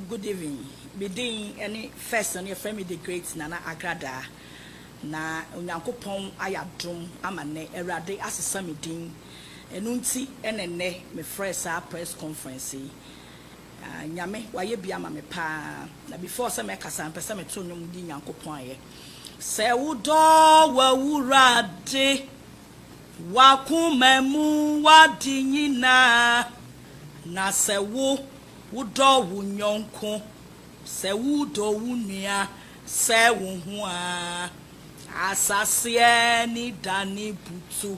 good evening medin ɛne first no yɛfrɛ me the great nana agrada na onyankopɔn ayɛ adom ama nnɛ awurade asesa me din Ɛno nti na nnɛ mefrɛɛ saa press conference yi. Aah Nyame wayɛ bi ama me paa. Na before sɛ mɛkasa no, mepɛsɛ meto nnwom di Nyankopɔn ayɛ. Sɛ wodɔ w'Awurade, w'akoma mu w'ade nyinaa, na sɛ wo wodɔ wo nyɔnko, sɛ wodɔ wo nua sɛ wo ho a, asaseɛ ani dane butu.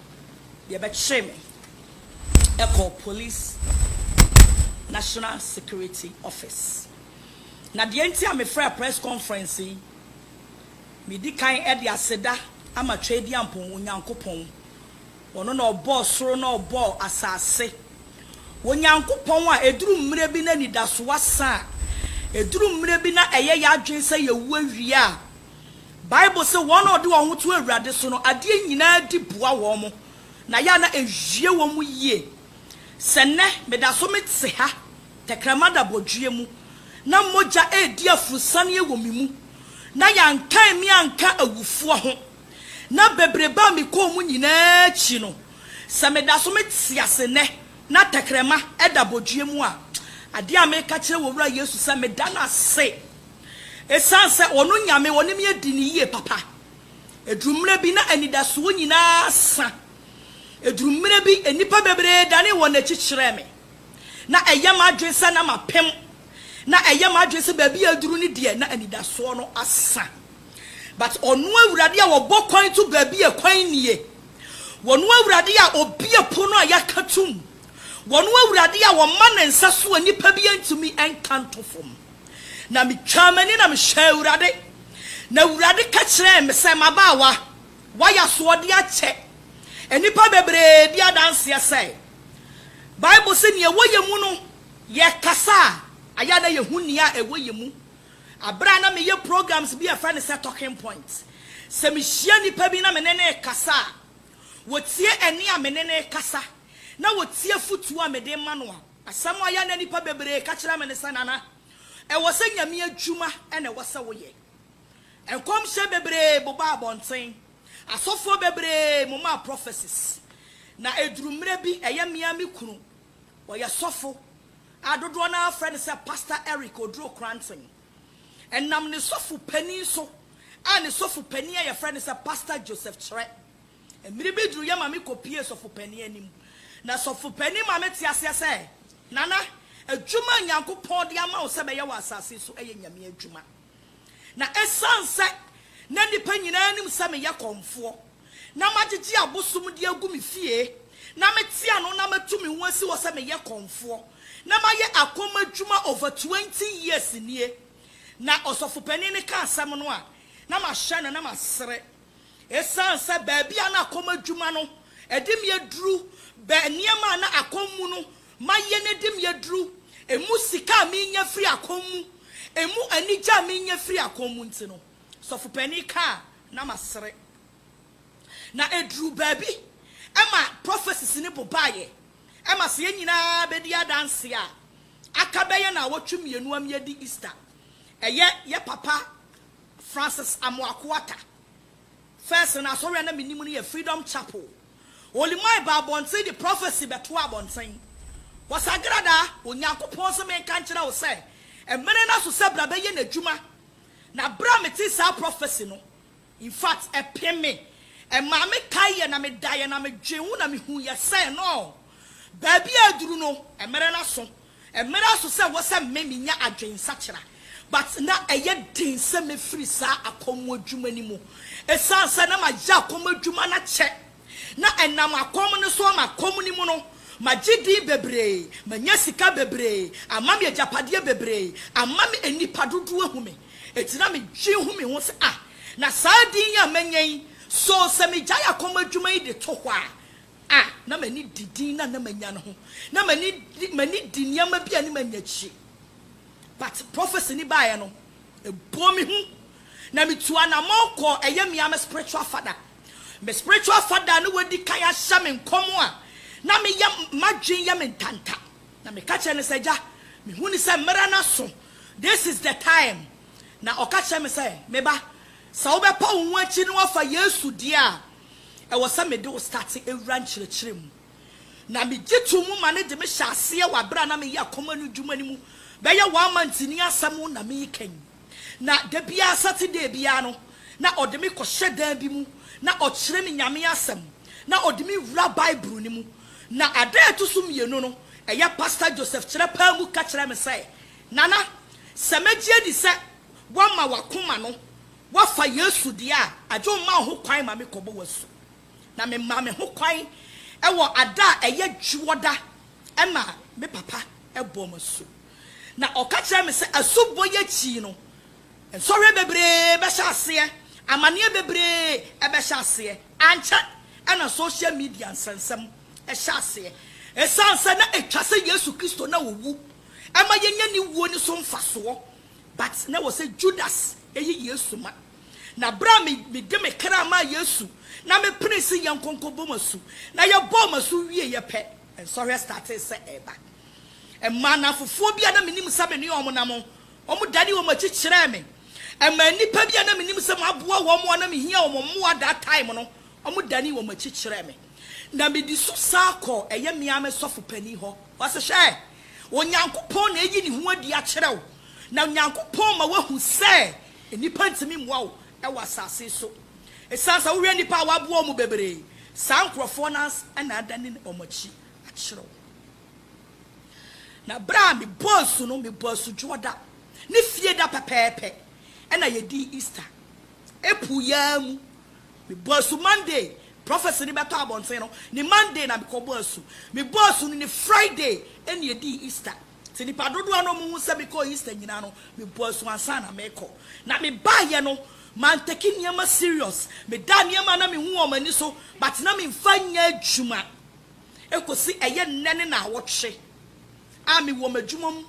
Yɛbɛkyere me kɔɔ Police National Security Office. Na deɛ nti a mefrɛɛ press conference yi, medi kan de aseda ama Tweaduampɔn Onyankopɔn. Ɔno na ɔbɔɔ soro na ɔbɔɔ asase. Onyankopɔn a ɛduru mmerɛ bi na anidasoɔ asa a, ɛduru mmerɛ bi na ɛyɛ yɛn adwene sɛ yɛwu awie a, Bible se wɔn a wɔde wɔn ho to Awurade so no, adeɛ nyinaa di boa wɔn, na yɛ a na ɛwie wɔn yie. Sɛ nnɛ meda so mete ha, tɛkrɛma da bɔdweɛ mu, na mogya redi afurusaneɛ wɔ me mu, na yɛankan me anka awufoɔ ho, na bebrebe a mekɔɔ mu nyinaa akyi no, sɛ meda so mete ase nnɛ na tɛkrɛma da bɔdweɛ mu a, adeɛ a meka kyerɛ wɔ Wura Yesu sɛ meda no ase Esiane sɛ ɔno Nyame ɔne me adi no yie papa, ɛduru mmerɛ bi na anidasoɔ nyinaa sa. Ɛduru mmerɛ bi nnipa bebree danee wɔn akyi kyerɛɛ me. Na ɛyɛ m'adwene sɛ na mapem. Na ɛyɛ m'adwene sɛ baabi a aduru no deɛ na anidasoɔ no asa. But ɔno Awurade a ɔbɔ kwan to baabi a kwan nnie, ɔno Awurade a ɔbue pono a yɛaka tom, ɔno Awurade a ɔma ne nsa so a nnipa bi ntumi nka nto fam, Na mitwaa m'ani na mehwɛɛ Awurade, na Awurade ka kyerɛɛ me sɛ, M'abaawa, woayɛ asoɔden akyɛ nnipa bebree bi adanseɛ sɛ, Bible se nea ɛwɔ yɛn mu no, yɛkasa a, ɛyɛ a na yɛhu nea ɛwɔ yɛn mu. Berɛ a na meyɛ programs bi a ɛfrɛ no sɛ Talking Point, sɛ mehyia nnipa bi na me ne no rekasa a, wɔtie ɛnne a me ne no rekasa, na wɔtie afotuo a mede rema no a, Asɛm a ɔyɛ na nnipa bebree ka kyerɛ me ne sɛ, Nana, ɛwɔ sɛ Nyame adwuma na ɛwɔ sɛ woyɛ. Nkɔmhyɛ bebree bobaa abɔnten, asɔfoɔ bebree momaa prophecies, na ɛduru mmerɛ bi ɛyɛ me ara me kunu, ɔyɛ sɔfo a dodoɔ no ara frɛ no sɛ Pastor Eric Oduro Kranten. Ɛnam ne sɔfo panin so a ne sɔfo panin a yɛfrɛ no sɛ Pastor Joseph Kyerɛ. Mmere bi duruiɛ ma me kɔpuee sɔfopanin anim, na sɔfopanin ma mete aseɛ sɛ, Nana, adwuma a Nyankopɔn de ama wo sɛ bɛyɛ wɔ asase so ɛyɛ Nyame adwuma. Na ɛsiane sɛ na nnipa nyinaa nim sɛ meyɛ kɔmfoɔ, na magyegye abosom de agu me fie, na mete ano na matu me ho asi hɔ sɛ meyɛ kɔmfoɔ, na mayɛ akɔm adwuma over twenty years nie. Na ɔsɔfopanin no ka asɛm no a, na mahyɛ no na masere. Esiane sɛ baabi a na akɔm adwuma no de me aduru bɛ nneɛma a na akɔm mu no mayɛ no de me aduru, emu sika a menya firi akɔm mu, emu anigye a menya firi akɔm mu nti no, sɔfo panin kaa na masere. Na ɛduruu baabi ma prophecies no bobaeɛ ma sɛ yɛn nyinaa bɛdi adanseɛ a, aka bɛyɛ nnawɔtwe mmienu ama yɛadi Easter. Ɛyɛ yɛ papa Francis Amoako Atta, First no asɔre a na menim no yɛ Freedom Chapel. Olimai baa abɔnten de prophecy bɛtoaa abɔnten. Wɔsagrada, Onyankopɔn se menka nkyerɛ wo sɛ mmere no aso sɛ bra bɛyɛ n'adwuma. Na bere a metee saa prophecy no, in fact, ɛpem me. Ɛmaa me kaeɛ na medaeɛ na medwen ho na mehuiɛ sɛ, no, baabi a aduru no, mmere no aso. Ɛmmra so sɛ wɔ sɛ me menya adwensakyera but na ɛyɛ den sɛ mɛfiri saa akɔm adwuma no mu ɛsiane sɛ na mayɛ akɔm adwuma no akyɛ na ɛnam akɔm no so ama akɔm no mu no magye din bebree manya sika bebree ama me agyapadeɛ bebree ama me nnipa dodoɔ ahu me ɛti na medwen hu me ho sɛ ah na saa din yi a manya yi so sɛ megyae akɔm adwuma yi de to hɔ a a na m'ani di din no a na manya no ho. Na m'ani di m'ani di nneɛma bi a ne manya akyire. But prophecy no baeɛ no, ɛbɔɔ me hu. Na metuu anamɔn kɔɔ ɛyɛ me ara me spiritual father. Me spiritual father a na wadi kan ahyɛ me nkɔm a na meyɛ m'adwene yɛ me ntanta. Na meka kyerɛɛ no sɛ, Agya, mehu no sɛ mmerɛ no aso. This is the time. Na ɔka kyerɛɛ me sɛ, Me ba, sɛ wobɛpa wo ho akyiri na woafa Yesu deɛ a, Ɛwɔ sɛ mede wo starte wura nkyerɛkyerɛ mu. Na megye too mu ma no de me hyɛ aseɛ wɔ aberɛ a na meyɛ akoma no adwuma no mu bɛyɛ one month ni asɛm na mereka yi. Na da biara Saturday biara no na ɔde me kɔhyɛ dan bi mu na ɔkyerɛ me Nyame asɛm na ɔde me wura Bible no mu. Na adaa ɛto so mmienu no ɛyɛ Pastor Joseph Kyerɛ paa mu ka kyerɛɛ me sɛ Nana sɛ mɛgye adi sɛ woama w'akoma no Woafa Yesu deɛ a, agye wo mma wo ho kwan ma me kɔbɔ w'asu. Na me maa me ho kwan wɔ ada a ɛyɛ dwoɔda ɛna me papa bɔɔ me asu. Na ɔka kyerɛɛ me sɛ asubɔ yi akyi no, nsɔhwɛ bebree bɛhyɛ aseɛ, amaneɛ bebree ɛbɛhyɛ aseɛ. Ankyɛ ɛna social media nsɛnsɛm ɛhyɛ aseɛ. Ɛsiane sɛ na ɛtwa sɛ Yesu Kristo na ɔwu ɛma yɛnya ne wuo no so mfasoɔ. But na ɛwɔ sɛ Judas yi Yesu ma. Na berɛ a me de me kra maa Yesu na me penee se yɛn nkonko bɔ m'asu, na yɛ bɔɔ m'asu wieɛ pɛ, nsɔhwɛ startee sɛ ɛreba. Ɛmaa nnamfofoɔ bi a na me nim sɛ me ne wɔn nam, wɔn danee wɔn akyi kyerɛɛ me. Ɛmaa nnipa bi a na me nim sɛ m'aboa wɔn a na me hia wɔn mmoa that time no, wɔn danee wɔn akyi kyerɛɛ me. Na me di so saa kɔɔ ɛyɛ me ara me sɔfo panin hɔ, ɔse hwɛ, Onyankopɔn na ayi ne ho adi akyerɛ wo, na Onyankopɔn ma woahu sɛ nnipa ntumi mmoa wo wɔ asase so. Esiane sɛ wohwɛ nnipa a wɔaboa wɔn bebree, saa nkurɔfoɔ no ara na adane wɔn akyi akyerɛ wo. Na berɛ a mebɔɔ asu no, mebɔɔ asu Dwoɔda ne Fieda pɛpɛɛpɛ na yɛdii Easter. April yi ara mu Mebɔɔ asu Monday, prophecy no bɛtɔ abɔnten no, ne Monday na mekɔ bɔɔ asu. Mebɔɔ asu no ne Friday ɛna ɛdii Easter. Nti nnipa dodoɔ no ɔmo hu sɛ mekɔɔ Easter nyinaa no, mebɔɔ asu ansa na mekɔ. Na mebaeɛ no, mantake nneɛma serious. Medaa nneɛma a na mehu wɔ ɔmo ani so, but na memfa nyɛ adwuma. Ɛkɔsi ɛyɛ nnɛ ne naawɔtwe a mewɔ m'adwuma mu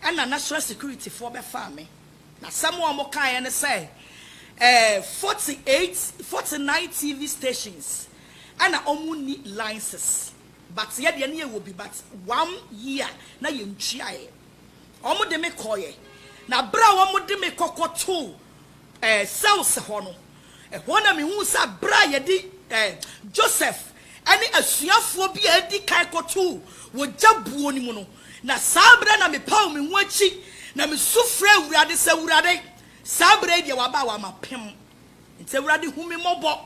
ɛna national security foɔ bɛfaa me. N'asɛm a wɔkaeɛ ne sɛ, ɛɛ, forty eight, forty nine TV stations na wɔnni license, but yɛ deɛ na yɛwɔ bi, but one year na yɛntuaeɛ. Wɔde me kɔeɛ, na berɛ a wɔde me kɔ kɔtoo, ɛɛ, cells hɔ no, ɛhɔ na mehuu sɛ berɛ a yɛde, ɛɛ, Joseph ne asuafoɔ bi a adi kan kɔtoo wɔ gya buo no mu no, Na saa berɛ na mepaw me ho akyi na mesu frɛɛ Awurade sɛ, Awurade, saa berɛ yi deɛ waba a wama pem. Enti Awurade hu me mmɔbɔ.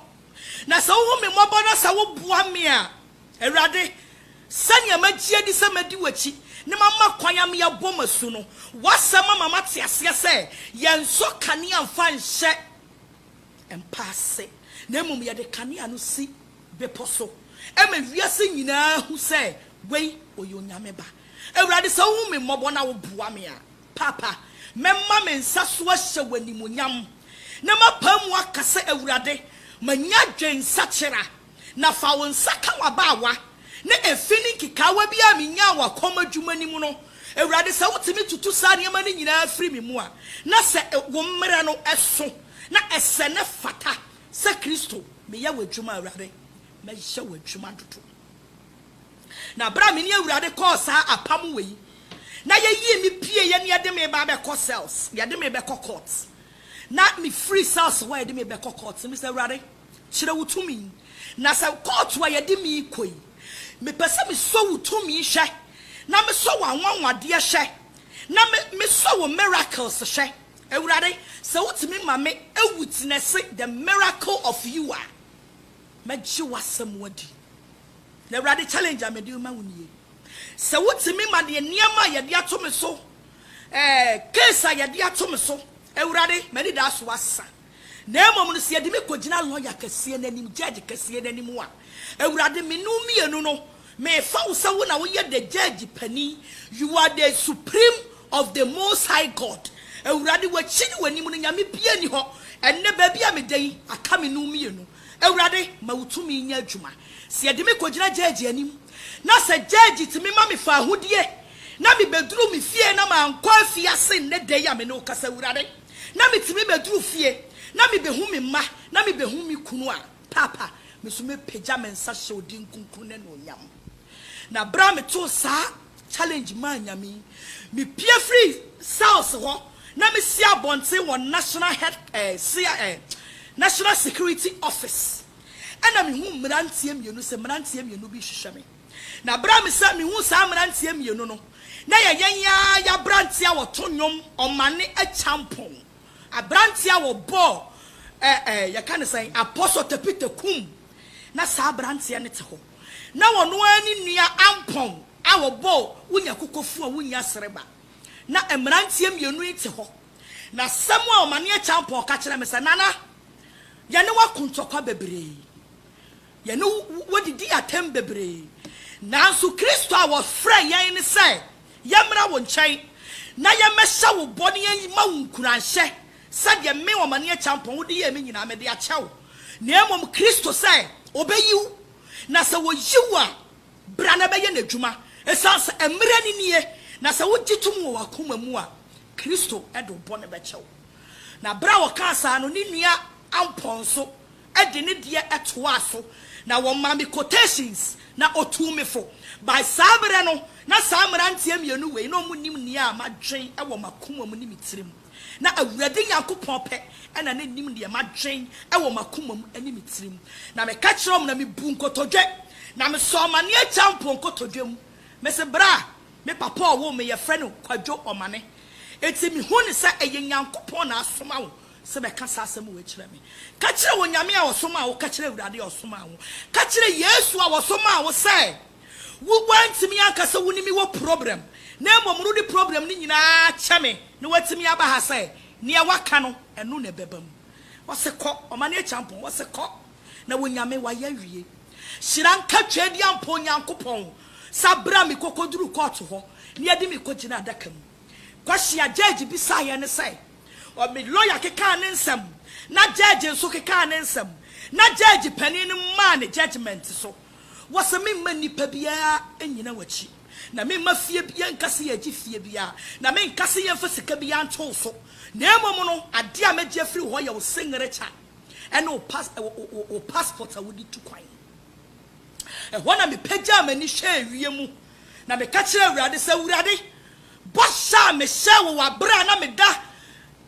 Na sɛ wohu me mmɔbɔ na sɛ woboa me a, Awurade, sɛnea magye adi sɛ mɛdi w'akyi na mama kwan ama yɛabɔ mo asu no, w'asɛm ama mate aseɛ sɛ yɛnsɔ kanea mfa nhyɛ mpa ase, na mmom yɛde kanea no si bepɔ so ma wiase nyinaa hu sɛ Wei, ɔyɛ Onyame Ba. Awurade, sɛ wohu me mmɔbɔ na woboa me a, Paapa, mɛma me nsa so ahyɛ wo animuonyam, na mapae mu aka sɛ, Awurade, manya adwensakyera, na fa wo nsa ka w'abaawa, na efi ne nkekaawa bi a minyaa wɔ kɔm adwuma no mu no, Awurade, sɛ wotumi tutu saa nneɛma no nyinaa firi me mu a, na sɛ wo mmara no so na ɛsɛ na ɛfata sɛ Kristo, meyɛ w'adwuma, Awurade, mɛyɛ w'adwuma dodo. Na berɛ a me ne Awurade kɔɔ saa apam wei, na yɛyii me pieeɛ na yɛde me reba abɛkɔ cells, yɛde me rebɛkɔ court, na mefiri cells hɔ a yɛde me rebɛkɔ court no, mesɛ, Awurade, kyerɛ wo tumi, na sɛ court a yɛde me rekɔ yi, mepɛ sɛ mesɔ wo tumi hwɛ, na mesɔ w'anwanwadeɛ hwɛ, na me, mesɔ wo miracles hwɛ. Awurade, sɛ wotumi ma me awitness the miracle of you a, Mɛgye w'asɛm adi. Na Awurade challenge a mede rema wo nie, sɛ wotumi ma deɛ nneɛma a yɛde ato me so, eh, case a yɛde ato me so, Awurade, m'anidaso asa. Na mmom no, sɛ yɛde me kɔgyina lɔya kɛseɛ no anim, judge kɛseɛ no anim a, Awurade, me ne wo mmienu no, Mefa wo sɛ wo na woyɛ the judge panin, you are the supreme of the most high God, Awurade w'akyi ne w'anim no Nyame biaa nni hɔ, ɛnnɛ baabi a meda yi aka me nom mmienu, Awurade ma wo tumi nyɛ adwuma, sɛ yɛde me kɔgyina judge anim na sɛ judge tumi ma me faahodie na me bɛduru me fie na mankɔ afiase nnɛ da yi a me ne wo kasa Awurade na me tumi bɛduru fie na me bɛhu me mma na me bɛhu me kunu a Paapa, me so mepagya me nsa hyɛ wo din kronkron no anuonyam. Na bere a metoo saa challenge maa Nyame yi, mepue firii cells hɔ na mesi abɔnten wɔ National Head eh, cia eh, National Security Office. Ɛna mehuu mmeranteɛ mmienu sɛ mmeranteɛ mmienu bi rehwehwɛ me. Na bere a mesa mehuu saa mmeranteɛ mmienu no, na ɛyɛ yɛn ara yɛn aberanteɛ a wɔto nnwom, ɔmane, akyampɔn. Aberanteɛ a wɔbɔɔ ɛ ɛ yɛka no sɛn, Apostle Tepite kum, na saa aberanteɛ no te hɔ. Na ɔno ara ne nua Ampong a wɔbɔɔ wonya kokofuo a wonnya sereba. Na mmeranteɛ mmienu yi te hɔ. Na asɛm a Ɔmaneɛ Champong ka kyerɛɛ me sɛ, Nana, yɛne wo ako ntɔkwa bebree. Yɛne wo didii atɛm bebree, nanso Kristo a wɔfrɛɛ yɛn ne sɛ yɛmmra wo nkyɛn na yɛmmɛhyɛ wo bɔ ne yɛmma wo nkuranhyɛ sɛdeɛ me, Ɔmaneɛ Kyampɔn, wode yɛɛ me nyinaa mede akyɛ wo, na mmom Kristo sɛ ɔbɛyi wo, na sɛ ɔyi wo a, bra na bɛyɛ n'adwuma, ɛsiane sɛ mmerɛ no nie, na sɛ wogye tom wɔ w'akoma mu a, Kristo de wo bɔne bɛkyɛ wo. Na berɛ a ɔkaa saa no, ne nua Ampɔn nso de ne deɛ toaa so na wɔmaa me quotations na ɔtuu me fo. By saa berɛ no, na saa mmeranteɛ mmienu wei na wɔnim nea madwen wɔ m'akoma mu ne me tiri mu. Na Awurade Nyankopɔn pɛ na na nim deɛ madwen wɔ m'akoma mu ne me tiri mu. Na meka kyerɛɛ wɔn na mebuu nkotodwe, na mesɔɔ m'aneɛ Kyampoo nkotodwe mu. Mese berɛ a me papa a ɔwoo me yɛfrɛ no Kwadwo Ɔmane. Enti mehu no sɛ ɛyɛ Nyankopɔn na asoma wo. sɛ bɛka saa asɛm wei kyerɛ me. Ka kyerɛ Onyame a ɔsomaa wo, ka kyerɛ Awurade a ɔsomaa wo, ka kyerɛ Yesu a ɔsomaa wo sɛ wo woantumi anka sɛ wone me wɔ problem na mmom rode problem no nyinaa kyɛ me na woatumi aba ha sɛ neɛ woaka no ɛno na ɛbɛba mu. Ɔse kɔ, ɔmane akyampɔn, ɔse kɔ na Onyame wayɛ awie. Hyira nka Tweaduampɔn Nyankopɔn sa bra me kokoduru court hɔ na yɛde me kɔgyina adaka mu. Kwasi Agyegyi bisaeɛ ne sɛ, ɔ me lɔya kekaa ne nsɛm na gyɛɛgye nso kekaa ne nsɛm na gyɛɛgye panin no maa ne gyɛgyemɛnte so wɔ sɛ memma nnipa biara nnyina w'akyi na memma fie biara nka sɛ yɛregye fie biara na menka sɛ yɛmfa sika biara nto wo so na mmom no adeɛ a mɛgye afiri wo hɔ yɛ wo singirikya ne wo pas wo wo wo passport a wode tu kwan. Ɛhɔ na mepagyaa m'ani hwɛɛ wiem Na meka kyerɛɛ Awurade sɛ, Awurade, bɔhyɛ a mehyɛɛ wo wɔ bere a na meda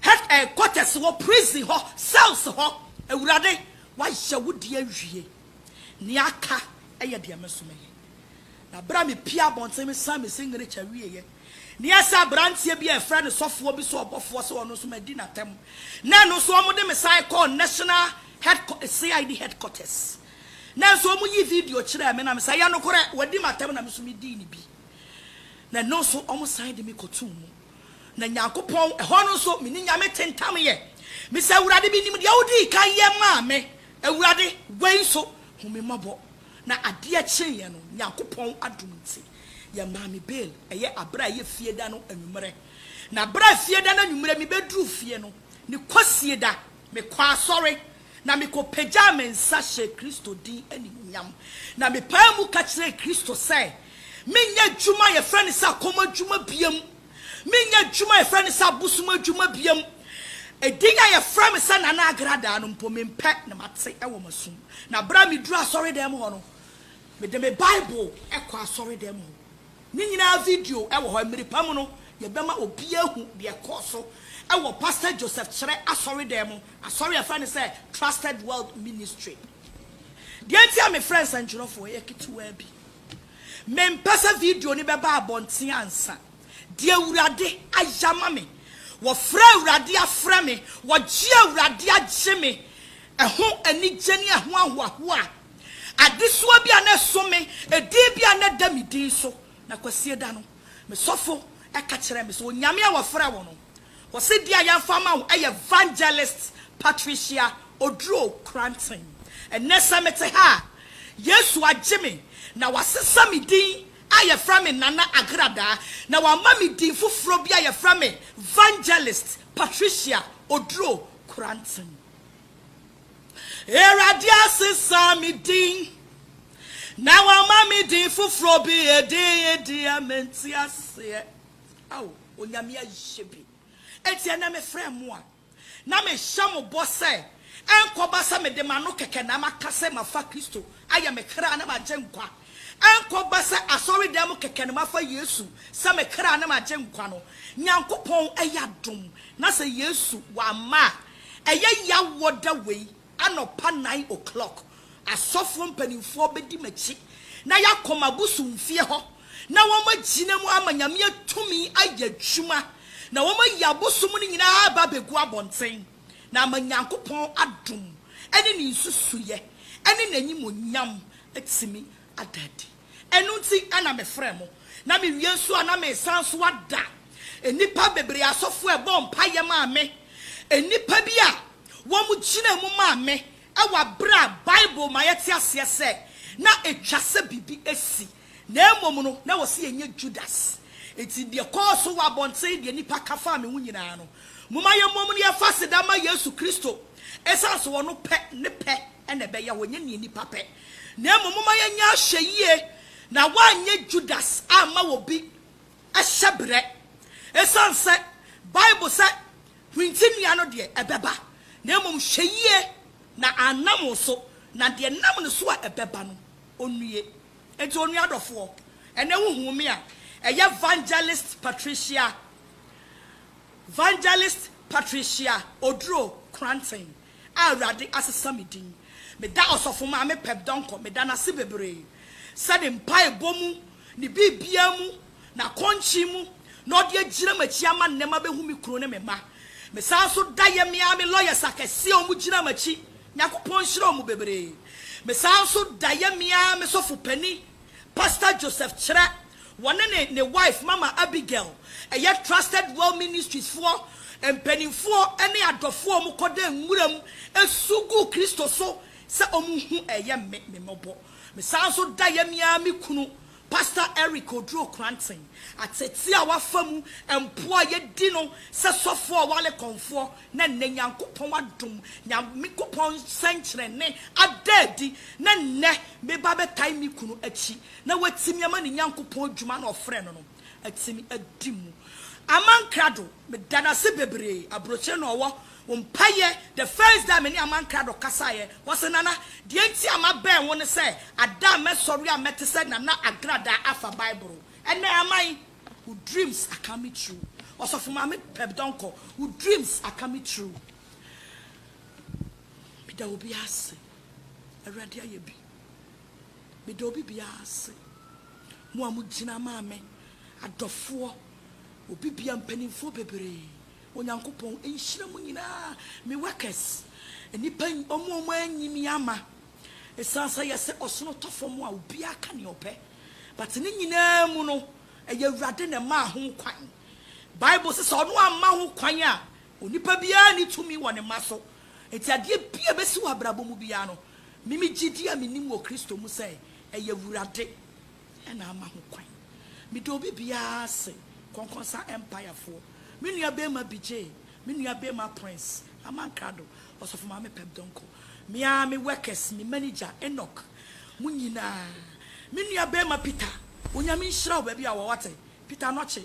head eh, quarters hɔ, prison hɔ, cells hɔ, Awurade, woayɛ wo deɛ awie. Nea aka yɛ deɛ me nso mɛyɛ. Na bere a mepiee abɔnten, mesan me signature wieeɛ, na ɛyɛ sɛ aberanteɛ bi a wɔfrɛ no sɔfoɔ bi sɛ ɔbɔfoɔ sɛ ɔno nso madi n'atɛm, na ɛno nso wɔde me san kɔɔ national head, CID headquarters. Nanso wɔyii video kyerɛɛ me na me sɛ, Ɛyɛ nokorɛ, wɔadi m'atɛm na me nso medii ne bi. Na ɛno nso wɔsan de me kɔtoo mu. Na Nyankopɔn, ɛhɔ no nso me ne Nyame te ntam yɛ. Me sɛ, Awurade, menim deɛ wodii kan yɛ maa me. Awurade, wei nso, hu me mmɔbɔ. Na adeɛ kyeeɛ no, Nyankopɔn adom nti, yɛmaa me bail, ɛyɛ aberɛ a ɛyɛ fie da no anwummerɛ. Na berɛ a fie da no anwummerɛ mebɛduruu fie no, ne kwasie da, mekɔɔ asɔre. na mikopagyaa me nsa hyɛɛ Kristo din animuonyam, na mepaa mu ka kyerɛɛ Kristo sɛ menyɛ adwuma a yɛfrɛ no sɛ akɔm adwuma biam, menyɛ adwuma a yɛfrɛ no sɛ abosom adwuma biam. Edin a yɛfrɛ me sɛ Nana Agradaa no mpo, mempɛ na mate wɔ m'asom. Na bere a miduruu asɔredan mu hɔ no, mede me Bible kɔɔ asɔredan mu hɔ. Ne nyinaa video wɔ hɔ. Mmere pa mu no, yɛbɛma obiara ahu deɛ ɛkɔɔ so wɔ Pastor Joseph Kyerɛ asɔredan mu, asɔre a yɛfrɛ no sɛ Trusted World Ministry. Deɛ nti a mefrɛ nsɛntwerɛfoɔ yɛ ketewaa bi. Mempɛ sɛ video no bɛba abɔnten ansa. Deɛ Awurade ayɛ ama me, wɔfrɛ Awurade afrɛ me, wɔgye Awurade agye me, ɛho anigye ne ɛho ahoahoa a Adesoa bi a na ɛso me, edin bi a na ɛda me din so. Na Kwasieda no, me sɔfo ka kyerɛɛ me sɛ, Onyame a wɔfrɛ wo no, ɔse din a yɛamfa ama wo yɛ Vangelist Patricia Oduro Kranten. Ɛnnɛ sɛ mete ha a, Yesu agye me na wasesa me din a yɛfrɛ me Nana Agradaa na wama me din foforɔ bi a yɛfrɛ me Vangelist Patricia Oduro Kranten. Awurade asesa me din, na wama me din foforɔ bi, edin yi deɛ mente aseɛ. Ao, Onyame ayɛ bi. Enti ɛnɛ mefrɛ mo a, na mehyɛ mo bɔ sɛ, ɛnkɔba sɛ mede m'ano kɛkɛ na maka sɛ mafa Kristo ayɛ me kra ne m'agyenkwa, ɛnkɔba sɛ asɔredan mu kɛkɛ na mafa Yesu sɛ me kra ne m'agyenkwa no. Nyankopɔn ayɛ adom, na sɛ Yesu wamma a, Ɛyɛ yaw wɔ da wei anɔpa nine o'clock asɔfoɔ mpaninfoɔ bɛdi m'akyi na yɛakɔ m'abosomfie hɔ na wɔn agyina mu ama Nyame atumi ayɛ adwuma na wɔn ayi abosom no nyinaa aba abɛgu abɔnten na ama Nyankopɔn adom ɛne ne nsusuiɛ ɛne n'animonyam atumi ada adi. Ɛno nti na mefrɛɛ mo, na mewie nso a na meresan nso ada nnipa bebree asɔfoɔ a ɛbɔɔ mpaeɛ maa me, nnipa bi a wɔgyinaa mu maa me wɔ berɛ a Bible ma yɛte aseɛ sɛ na ɛtwa sɛ biribi si, na mmom no na wɔse yɛnyɛ Judas. Enti deɛ ɛkɔɔ so wɔ abɔnten, deɛ nnipa ka faa me ho nyinaa no, momma yɛmmom na yɛmfa aseda mma Yesu Kristo, ɛsiane sɛ ɔno pɛ, ne pɛ na ɛbɛyɛ hɔ, ɛnyɛ deɛ nnipa pɛ. Na mmom momma yɛnyɛ ahwɛyie na wɔanyɛ Judas amma obi hyɛberɛ. Ɛsiane sɛ Bible sɛ hwinti nnua no deɛ ɛbɛba, na mmom hwɛ yie na annam wo so, na deɛ ɛnam ne so a ɛbɛba no ɔnnue. Enti onua adɔfoɔ, ɛnnɛ wohuu me a, ɛyɛ Vangelist Patricia, Vangelist Patricia Oduro Kranten. a Awurade asesa me din. Meda Ɔsɔfo Maame Peg Donkor meda no ase bebree sɛ ne mpaebɔ mu, ne biribiara mu, n'akɔnkyen mu na ɔde agyina m'akyi ama nnɛ mabehu me kunu ne me mma. Mesan nso da yɛ me ara me lawyers akɛse a wɔgyina m'akyi, Nyankopɔn nhyira wɔn bebree. Mesan nso da yɛ me ara me sɔfo panin, Pastor Joseph Kyerɛ. Wɔne ne ne wife Mama Abigail, ɛyɛ Trusted Well Ministries foɔ mpaninfoɔ ne adɔfoɔ a wɔn kɔ da nwuram su gu Kristo so sɛ wɔn hu ɛyɛ me me mmɔbɔ. Me san nso da yɛ me ara me kunu Pastor Eric Oduro Kranten ateetee a wafa mu mpo a yɛ di no sɛ sɔfoɔ a ɔwale kɔnfoɔ na nnɛ Nyankopɔn adom Nyankopɔn sɛnkyerɛnne ada adi na nnɛ me ba bɛtae me kunu akyi na watumi ama ne Nyankopɔn adwuma no a ɔfrɛɛ no no atumi adi mu. Aman Krado, meda no ase bebree, aburokyire na ɔwɔ, wo mpaeɛ, the first day a me ne Aman Krado kasaeɛ, ɔse, Nana, deɛ nti a mabɛn wo ne sɛ, ada a mɛsɔre a mɛte sɛ Nana Agradaa afa Bible, ɛnɛ Aman, wo dreams are coming true, Ɔsɔfo Maame Peb Donkor, wo dreams are coming true. Meda obiara ase, Awurade ayɛ bi. Meda obi biara ase, mo a mo gyina maa me, adɔfoɔ, obi biara, mpaninfoɔ bebree, Onyankopɔn nhyira mo nyinaa, me workers, nnipa, wɔn a wɔn anyi me ama, ɛsiane sɛ yɛ sɛ ɔsono tɔ fam a obiara ka nea ɔpɛ, but ne nyinaa mu no, ɛyɛ Awurade na ɛmaa ho kwan, Bible se sɛ ɔno amma ho kwan a, onipa biara nni tumi wɔ ne mma so, enti adeɛ biara ɛbɛsi wɔ abrabɔ mu biara no, Me me gyidi a menim wɔ Kristo mu sɛ ɛyɛ Awurade na ama ho kwan. Meda obi biara ase, Kɔnkɔnsa Empire foɔ, me nua bɛɛma Bijay, me nua bɛɛma Prince, Aman Krado, Ɔsɔfo Maame Pep Donkor, me ara me workers, me manager Enoch, mo nyinaa, me nua bɛɛma Peter, Onyame nhyira wo baabi a wɔ wate, Peter Anokye,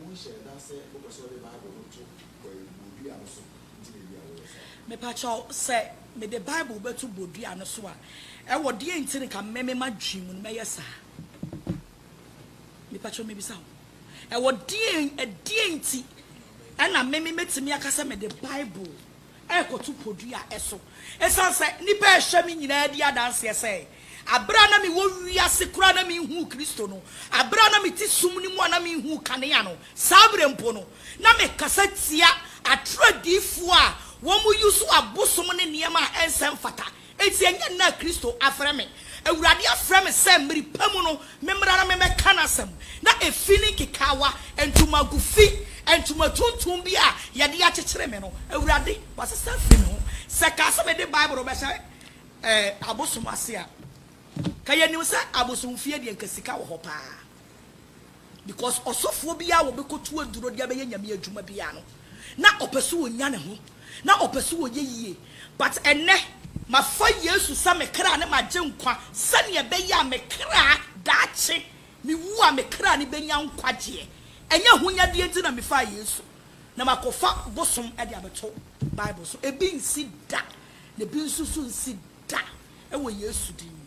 Wonhyɛɛ da sɛ wopɛ sɛ wode Bible no to bodua no so nti na ebia woyɛ saa. Mepakyɛw, sɛ mede Bible bɛto bodua no so a, ɛwɔ deɛn nti na nka me m'adwene mu no mɛyɛ saa? Mepakyɛw mebisa wo, ɛwɔ deɛn, ɛdeɛn nti na me mɛtumi aka sɛ mede Bible rekɔto podua so. Esiane sɛ nnipa a ɛhyɛ me nyinaa di adanseɛ sɛ bere a na mewɔ wiase koraa na menhuu Kristo no, bere a na mete sum no mu a na menhuu kanea no, saa bere mpo no, na mekasa tia atoro adiyifoɔ a wɔyi so abosom ne nneɛma a ɛnsɛ mfata Enti ɛnyɛ nnɛ a Kristo afrɛ me. Awurade afrɛ me sɛ mmere pa mu no memmra na memmɛka n'asɛm. Ná efi ne nkekaawa, ntomago fi, ntoma tuntum bi a wɔde akyekyere me no. Awurade, wɔasesa afiri me ho. Sɛ kaa sɛ mede Bible rebɛhyɛ abosom ase a, ka yɛnim sɛ abosomfie deɛ anka sika wɔ hɔ paa. Because ɔsɔfoɔ biara a ɔbɛkɔtu aduro de abɛyɛ Nyame adwuma biara no, na ɔpɛ sɛ ɔnya ne ho, na ɔpɛ sɛ ɔyɛ yie. But ɛnnɛ. Mafa Yesu sɛ me kra ne m'agyenkwa sɛdeɛ ɛbɛyɛ a me kra, daakye mewu a, me kra no bɛnya nkwagyeɛ. Ɛnyɛ ahonyadeɛ nti na mefaa Yesu na makɔfa bosom de abɛto Bible so. Ebi nsi da, na ebi nso so nsi da wɔ Yesu din mu.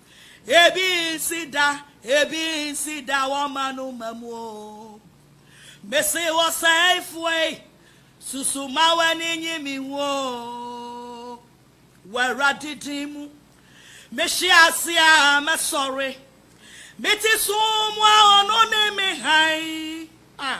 Ebi nsi da, ebi nsi da wɔma no ma mu o. Mese ɔsɛefoɔ yi, susu ma w'ani nye me ho o. Wɔ Awurade din mu, mehye ase a mɛsɔre. Mete sum mu a ɔno ne me hann a.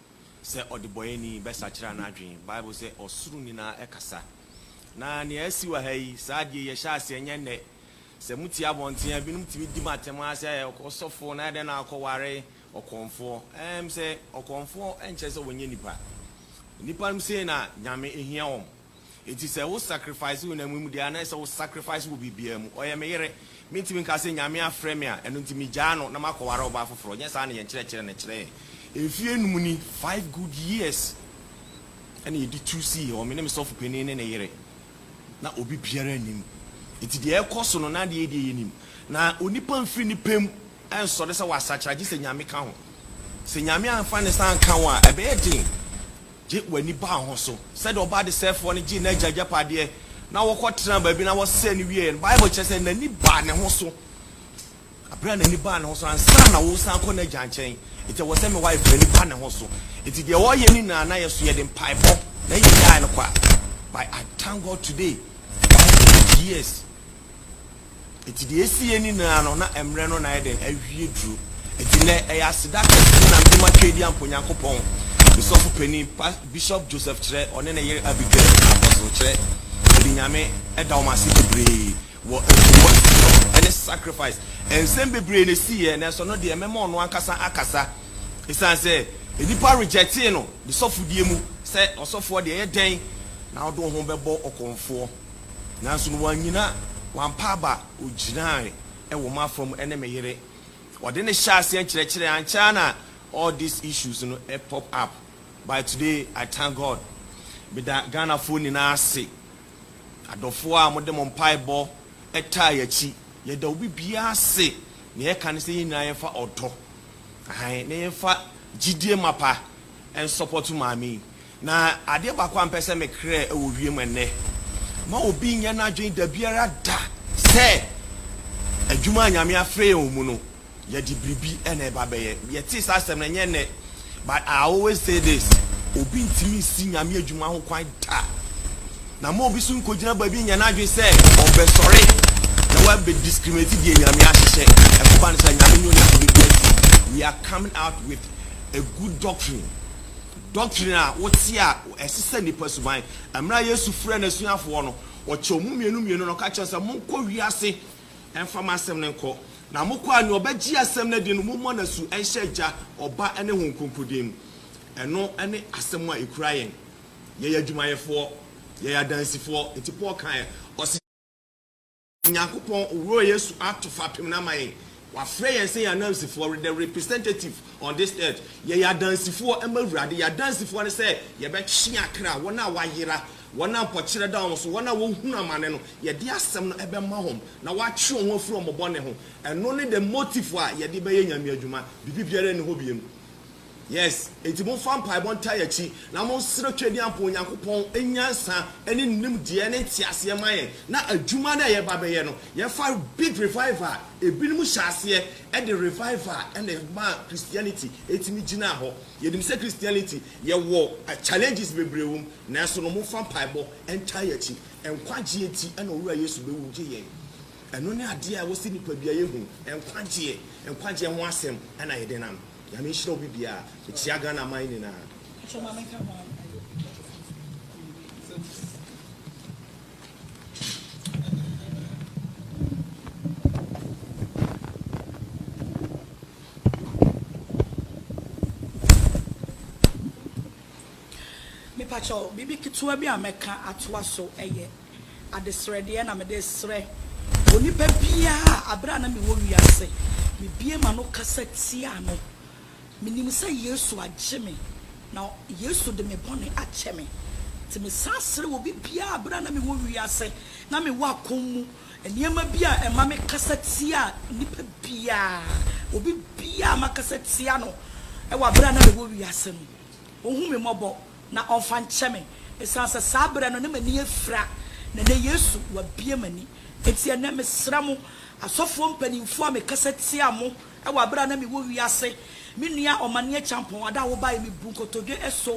sɛ ɔdebɔeɛni bɛsakyera n'adwene. Bible sɛ ɔsoro nyinaa kasa. Na nea asi wɔ ha yi, saa adeɛ yi ɛhyɛ aseɛ ɛnyɛ nnɛ. Sɛ motie abɔnten a, binom tumi di mo atɛm ara sɛ ɔsɔfoɔ na adɛn na akɔware ɔkɔmfoɔ. Ɛɛm sɛ ɔkɔmfoɔ nkyerɛ sɛ ɔnyɛ nipa. Nnipa nom sei na Nyame hia wɔn. Enti sɛ wo sacrifice wo honam yi mu deɛ a na ɛsɛ wo sacrifice wɔ biribiara mu. Ɔyɛ me yere. Mentumi nka sɛ Nyame afrɛ me a ɛno nti megyaa no na makɔware ɔbaa foforɔ. Nyɛ saa na yɛn kyerɛkyerɛ no kyerɛ yɛn. Mfeɛ nnum ni, five good years, ɛna yɛde tu sii hɔ, me ne me sɔfo panin ne ne yere. Na obi biara nnim. Enti deɛ ɛrekɔ so no na adeɛ yi deɛ yɛnim. Na onipa mfiri ne pɛ mu nsɔre sɛ wasakyera gye sɛ Nyame ka ho. Sɛ Nyame amfa ne nsa anka wo a ɛbɛyɛ den. Gye w'ani baa ho so. Sɛdeɛ ɔbaa desɛefoɔ no gyee n'agya agyapadeɛ na wɔkɔtenaa baabi na wɔsɛe no wieeɛ no, Bible kyerɛ sɛ n'ani baa ne ho so. Berɛ a n'ani baa ne ho so, ansa na woresan akɔ n'agya nkyɛn, enti ɛwɔ sɛ me wife no ani ba ne ho so. Enti deɛ ɔreyɛ no nyinaa na yɛ so, yɛde mpaebɔ na yɛgyaeɛ no kɔ a, but I thank God today, wife no aged years. Enti deɛ ɛsi yɛ nyinaa no, na mmerɛ no na ayɛ dɛn? Awie duro. Enti nnɛ, ɛyɛ aseda kɛseɛ na mede ma Tweedi Ampɔnyankopɔn, me sɔfo panin, Pas, Bishop Joseph Kyerɛ, ɔne ne yere Abigail, Apostle Kyerɛ. Mede Nyame da wɔn ase bebree wɔ ntɛmmuasoɔ ne sacrifice. Nsɛm bebree na ɛsiiɛ, nanso ɛno deɛ mɛma ɔno ankasa akasa. Ɛsiane sɛ nnipa rejectee no ne sɔfodie mu, sɛ ɔsɔfoɔ deɛ ɛyɛ dɛn na wode wo ho bɛbɔ ɔkɔmfoɔ? Nanso no wannyina, wampa aba, ogyinae wɔ m'afa mu ne me yere. Ɔde no hyɛɛ aseɛ nkyerɛkyerɛ, ankyɛ ara na all these issues no pop up, by today I thank God. Meda Ghanafoɔ nyinaa ase, adɔfoɔ a mode mo mpaebɔ taa yɛn akyi. Yɛda obi biara ase, nea yɛka ne sɛ yɛn nyinaa yɛmfa ɔdɔ, ahan, na yɛmfa gyidie mapa nsɔpɔto maame yi. Na adeɛ baako a mpɛ sɛ mekerɛ wɔ wiem ɛnnɛ, ma obi nyɛ n'adwene dabiara da sɛ adwuma a Nyame afrɛ yɛn wɔ mu no, yɛde biribi na ɛba bɛyɛ. Yɛtee saa asɛm no, ɛnyɛ nnɛ, but I always say this, obi ntumi nsi Nyame adwuma ho kwan da. Na ma obi nso nkɔgyina baabi nyɛ n'adwene sɛ ɔbɛsɔre na wabɛdiscriminate deɛ Nyame ahyehyɛ. Ɛkɔba no saa, Nyame ne ɔde biribi asi. We are coming out with a good doctrine. Doctrine a wote a ɛse sɛ nnipa suban. Mmerɛ a Yesu frɛɛ N'asuafoɔ no, Ɔkyɛɛ wɔn mmienu mmienu na Ɔka kyerɛɛ wɔn sɛ, Monkɔ wiase mfa m'asɛm no nkɔ. Na mokɔ a, nea ɔbɛgye asɛm no adi no, mommɔ no asu nhyɛ Agya, Ɔba ne Honhom Kronkron din mu. Ɛno ne asɛm a ɛkura yɛn. Yɛyɛ adwumayɛfoɔ. Yɛyɛ adansifoɔ. Nti Paul kaeɛ. Ɔse. Nyankopɔn Wura Yesu ato fapem no ama yɛn. Wafrɛ yɛn sɛ yɛn anansifoɔ, we're the representative on this earth. Yɛyɛ adansifoɔ ma Awurade. Yɛn adansifoɔ ne sɛ yɛbɛtwe akra, wɔn a wɔayera, wɔn a mpɔkyerɛ da wɔn so, wɔn a wɔhunu amane no, yɛde asɛm no bɛma wɔn na wɔatwe wɔn ho afiri wɔn bɔne ho. Ɛno ne the motive a yɛde bɛyɛ Nyame adwuma. Biribi biara nni hɔ biom. Yes, enti momfa mpaebɔ ntaa yɛn akyi, na monsrɛ Twadiampɔ Onyankopɔn nyansa ne nimdeɛ ne nteaseɛ mma yɛn, na adwuma no a yɛreba abɛyɛ no, yɛmfa big revival a ebinom hyɛɛ aseɛ de revival na ɛmaa Christianity tumi gyinaa hɔ. Yɛnim sɛ Christianity, yɛwɔ challenges bebree wɔ mu, nanso no momfa mpaebɔ ntaa yɛn akyi. Nkwagyeɛ nti na Owura Yesu bɛwu gye yɛn. Ɛno ne adeɛ a ɛwɔ sɛ nnipadua yɛ hu, nkwagyeɛ, nkwagyeɛ ho asɛm na yɛde nam. Nyame nhyira obi biaa mekyia Ghana man nyinaa. Pacho ma me nka ho a ayɛ obi pacho firi so kɔyi wei nsɛm firi so. Me pacho biribi ketewa bi a mɛka atoa so ɛyɛ. Adesrɛdeɛ na mede srɛ onipa biara a berɛ a na mewɔ wiase, mebue m'ano kasa tiaa no. Menim sɛ Yesu agye me, na Yesu de me bɔne akyɛ me. Nti mesan srɛ obi biara a berɛ a na mewɔ wiase na mewɔ akɔm mu nneɛma bi a ɛma mekasa tia nipa biara, obi biara a makasa tia no wɔ berɛ a na mewɔ wiase no, ɔnhu me mmɔbɔ. na ɔmfa nkyɛ me, esiane sɛ saa berɛ no na m'ani afira, na ɛnnɛ Yesu, wabue m'ani. Enti ɛnnɛ mesrɛ mo, asɔfoɔ mpanimfoɔ a mekasa tia mo wɔ aberɛ a na mewɔ wiase, me nua Ɔmane Acheampong, ada a wobaeɛ, mebu nkotodwe sɔ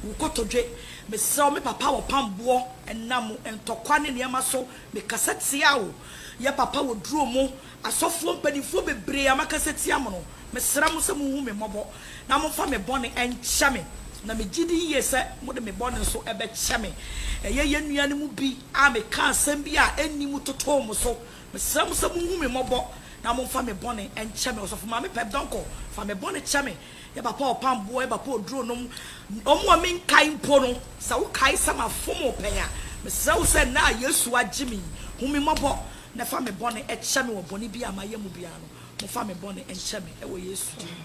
wo kotodwe, mesrɛ wo, me papa wɔpam boɔ, ɛnam ntɔkwa ne nneɛma so, mekasa tia wo, yɛ papa wɔduro mo, Asɔfoɔ mpaninfoɔ bebree a makasa tia mo no, mesrɛ mo sɛ monhu me mmɔbɔ na momfa me bɔne nkyɛ me, na megye di yie sɛ mode me bɔne nso bɛkyɛ me. Ɛyɛ yɛn nua no mu bi a mekaa asɛm bi a ɛnni mu totoo mo so. Mesrɛ mo sɛ monhu me mmɔbɔ na momfa me bɔne nkyɛ me. Ɔsɔfo Maame Pep Donkor, fa me bɔne kyɛ me. Yɛ Papa Ɔpamboɔ, yɛ Papa Oduro nom. Wɔn a menkae mpo no, sɛ wokae sɛ mafom wo pɛn a, mesrɛ wo sɛ ɛnnɛ a Yesu agye me yi, hu me mmɔbɔ Na fa me bɔne kyɛ me wɔ bɔne biaa mayɛ mu biaa no mo fa me bɔne nkyɛ me wɔ yesu din mu.